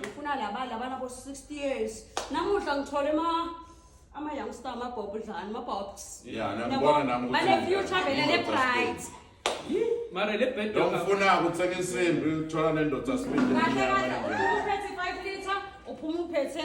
ngifuna laba laba nabo 60 years namuhla ngithole ma ama youngster ama bob dlani ma bobs Yeah, nami ngibona nami ukuthi- bane future vele le bright mara le bed Lo ngifuna ukuthenga insimbi uthola nendoda sibindi. kahle kahle uphuma uphethe 5 liter uphuma uphethe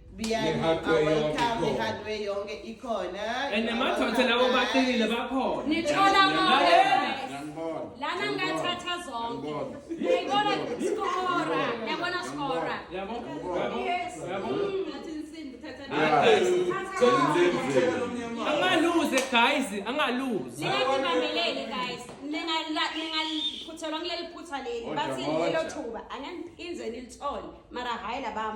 and namadoda lawo baqinile bakhona nithola konke lana ngathatha zonke yayibona skora yabona skora yabo yabo yabo angaluze guys angaluze ningakumamelele guys ningaphuthelwa kuleli phutha leli bathi lelo thuba anganiphinze nilithole mara hayi labam